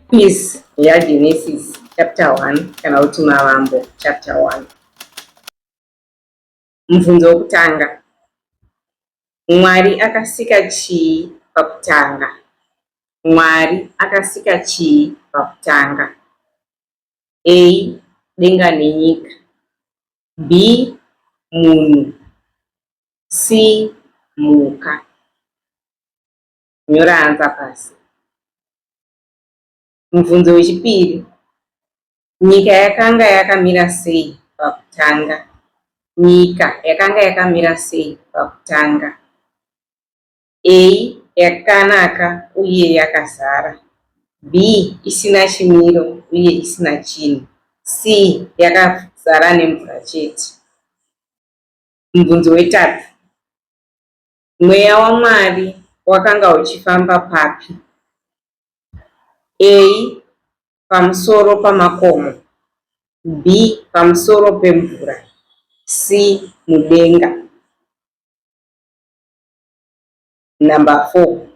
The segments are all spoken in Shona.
Peace yaGenesis chapter 1 kana kuti Mavambo chapter 1. Mubvunzo wokutanga, Mwari akasika chii pakutanga? Mwari akasika chii pakutanga? A. Denga nenyika. B. Munhu. C. Mhuka. Nyora hanza pasi. Mubvunzo wechipiri. Nyika yakanga yakamira sei pakutanga? Nyika yakanga yakamira sei pakutanga? A. Yakanaka uye yakazara. B. Isina chimiro uye isina chinhu. C. Yakazara nemvura chete. Mubvunzo wetatu. Mweya waMwari wakanga uchifamba papi? A. Pamusoro pamakomo B. Pamusoro pemvura C. Mudenga Number 4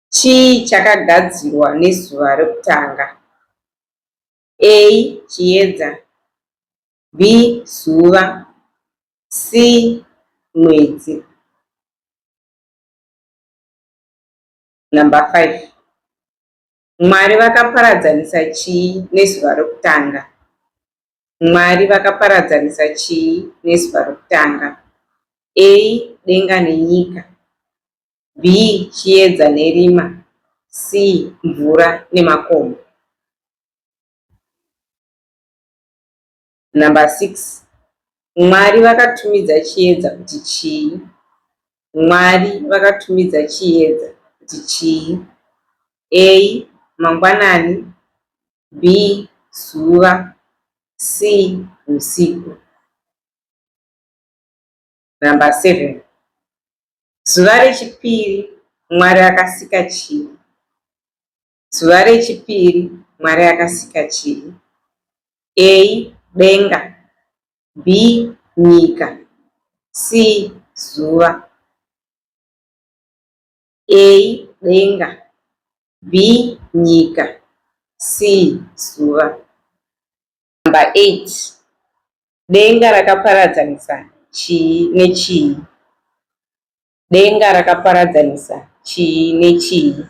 Chii chakagadzirwa nezuva rekutanga? A. Chiedza B. Zuva C. Mwedzi Number 5. Mwari vakaparadzanisa chii nezuva rokutanga? Mwari vakaparadzanisa chii nezuva rokutanga? A. Denga nenyika. B. Chiedza nerima. C. Mvura nemakomo. Number 6 Mwari vakatumidza chiedza kuti chii? Mwari vakatumidza chiedza kuti chii? A. Mangwanani B. Zuva C. Usiku Number 7 Zuva rechipiri Mwari akasika chii? Zuva rechipiri, Mwari akasika chii? A. Denga B. Nyika C. Zuva A. Denga B. Nyika C. Zuva Number 8. Denga rakaparadzanisa chii nechii? Denga rakaparadzanisa chii nechii?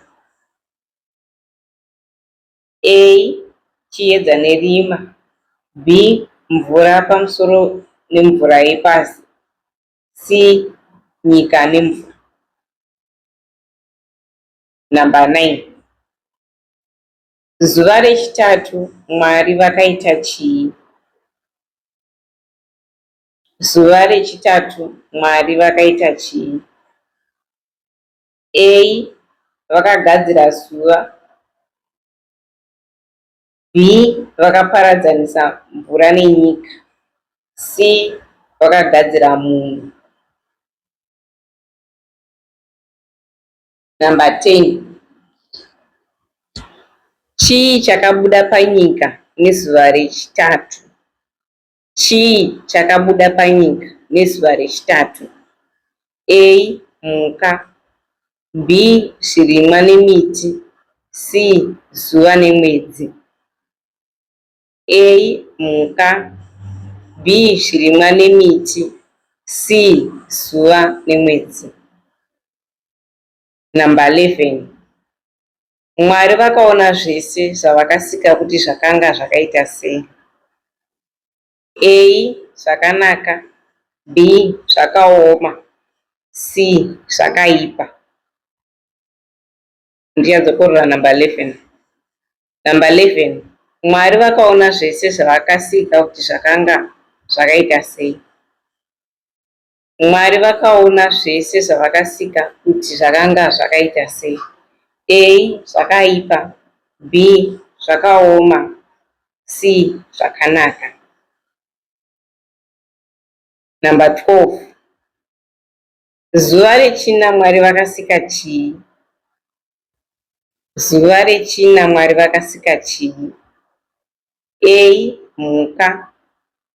A. Chiedza nerima B. Mvura pamusoro nemvura yepasi C. Nyika nemvura Number 9 Zuva rechitatu Mwari vakaita chii? Zuva rechitatu Mwari vakaita chii? A. Vakagadzira zuva B. Vakaparadzanisa mvura nenyika C. Vakagadzira munhu Number 10 Chii chakabuda panyika nezuva rechitatu? Chii chakabuda panyika nezuva rechitatu? A. Mhuka B. Zvirimwa nemiti C. Zuva nemwedzi A. Mhuka B. Zvirimwa nemiti C. Zuva nemwedzi Number 11 Mwari vakaona zvese zvavakasika kuti zvakanga zvakaita sei. A. Zvakanaka B. Zvakaoma C. Zvakaipa Ndichadzokorora number 11 Number 11 Mwari vakaona zvese zvavakasika kuti zvakanga zvakaita sei. Mwari vakaona zvese zvavakasika kuti zvakanga zvakaita sei, A, zvakaipa, B, zvakaoma, C, zvakanaka. Number 12. Zuva rechina Mwari vakasika chii? Zuva reChina Mwari vakasika chii? A. Mhuka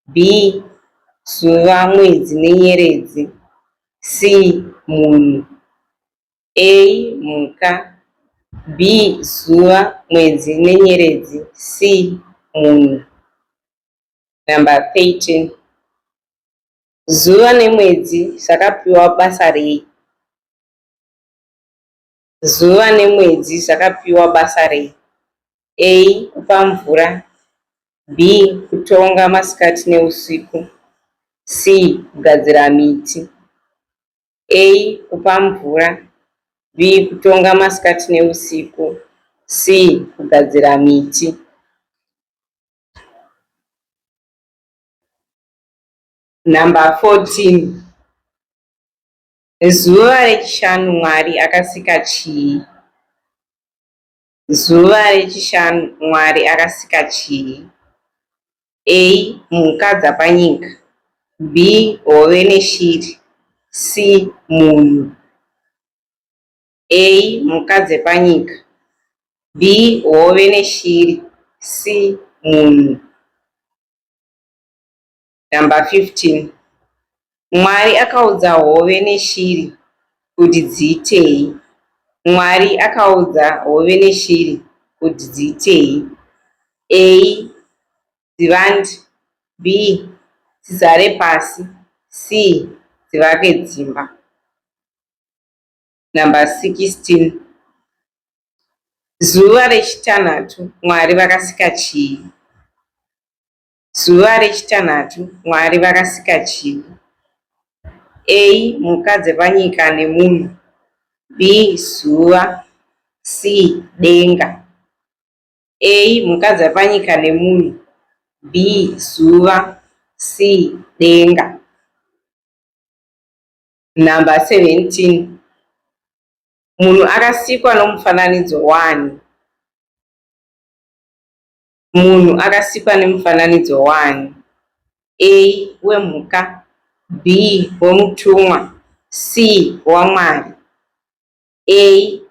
B. Zuva, mwedzi nenyeredzi C. Munhu A. Mhuka B. Zuva, mwedzi nenyeredzi C. Munhu Number 13 Zuva nemwedzi zvakapiwa basa rei? Zuva nemwedzi zvakapiwa basa rei? A. Kupa mvura B. Kutonga masikati neusiku C. Kugadzira miti A. Kupa mvura B. Kutonga masikati neusiku C. Kugadzira miti Number 14 Zuva rechishanu Mwari akasika chii? Zuva rechishanu Mwari akasika chii? A. Mhuka dzapanyika B. Hove neshiri C. Munhu A. Mhuka dzepanyika B. Hove neshiri C. Munhu Number 15 Mwari akaudza hove neshiri kuti dziitei? Mwari akaudza hove neshiri kuti dziitei? A. Dzivandi B. Dzizare pasi C. Dzivake dzimba Number 16 Zuva rechitanhatu Mwari vakasika chii? Zuva rechitanhatu Mwari vakasika chivi. A. Mhuka dzepanyika nemunhu. B. Zuva. C. Denga. A. Mhuka dzepanyika nemunhu. B. Zuva. C. Denga. Number 17. Munhu akasikwa nomufananidzo wani? Munhu akasikwa nemufananidzo waani? A. Wemhuka B. Wemutumwa C. WaMwari A.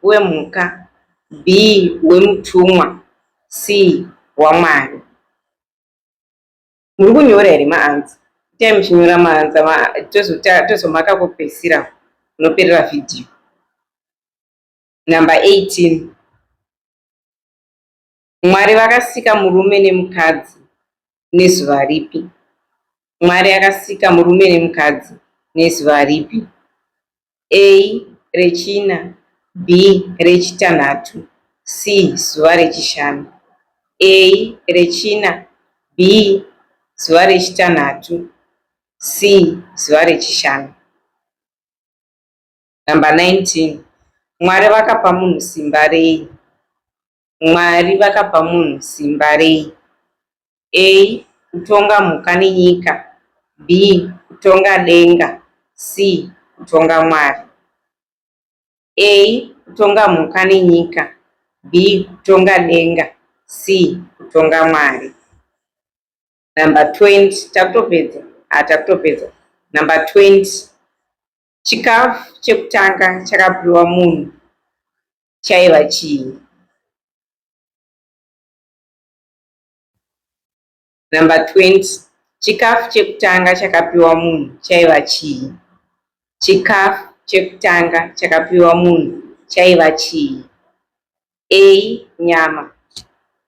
Wemhuka B. Wemutumwa C. WaMwari Muri kunyora here maanza? Itai muchinyora maanza tozomaka kwekupedzisira unoperera vhidhiyo. Number 18 Mwari vakasika murume nemukadzi nezuva ripi? Mwari akasika murume nemukadzi nezuva ripi? A rechina, B rechitanhatu, C zuva rechishanu. A rechina, B zuva rechitanhatu, C zuva rechishanu. Number 19. Mwari vakapa munhu simba rei? Mwari vakapa munhu simba rei? A. Kutonga mhuka nenyika B. Kutonga denga C. Kutonga Mwari A. Kutonga mhuka nenyika B. Kutonga denga C. Kutonga Mwari Number 20 takutopedza ah, takutopedza Number 20 chikafu chekutanga chakapiwa munhu chaiva chii. Number 20 chikafu chekutanga chakapiwa munhu chaiva chii. Chikafu chekutanga chakapiwa munhu chaiva chii. A nyama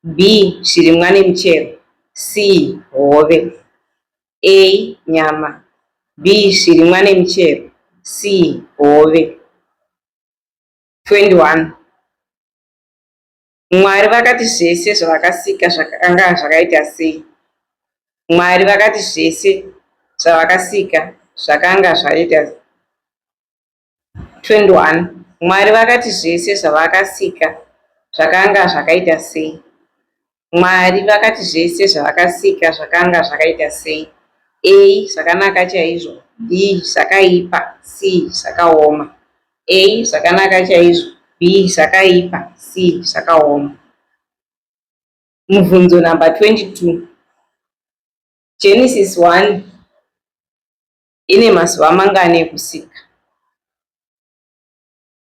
B zvirimwa nemichero C hove A nyama B zvirimwa nemichero C hove 21 Mwari vakati zvese zvavakasika zvakanga zvakaita sei? Mwari vakati zvese zvavakasika zvakanga zvaita 21 Mwari vakati zvese zvavakasika zvakanga zvakaita sei? Mwari vakati zvese zvavakasika zvakanga zvakaita sei? A. Zvakanaka chaizvo. B. Zvakaipa. C. Zvakaoma. A. Zvakanaka chaizvo. B. Zvakaipa. C. Zvakaoma. Mubvunzo number 22. Genesis 1 ine mazuva mangani ekusika?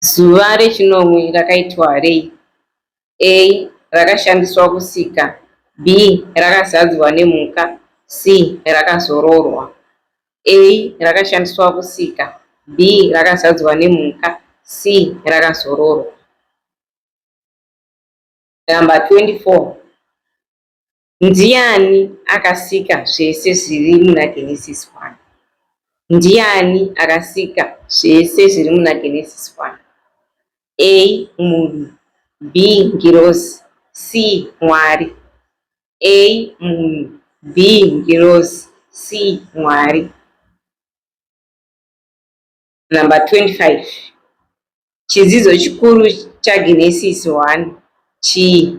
Zuva rechinomwe rakaitwa rei? A. Rakashandiswa kusika B. Rakazadzwa nemhuka C. Rakazororwa A. Rakashandiswa kusika B. Rakazadzwa nemhuka C. Rakazororwa Number 24 Ndiani akasika zvese zviri muna Genesis 1? Ndiani akasika zvese zviri muna Genesis 1? A. Munhu B. Ngirozi C. Mwari A. Munhu B. Ngirozi C. Mwari Number 25 Chidzidzo chikuru chaGenesis 1 chii?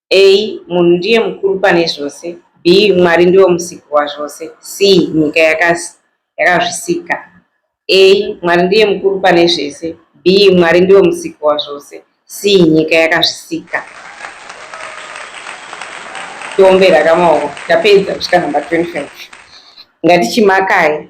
A munhu ndiye mukuru pane zvose B Mwari ndivo musiki wazvose C nyika yakaz yakazvisika A Mwari ndiye mukuru pane zvese B Mwari ndivo musiki wazvose C nyika yakazvisika tiombera kamaoko tapedza kusvika number 25 ngatichimakai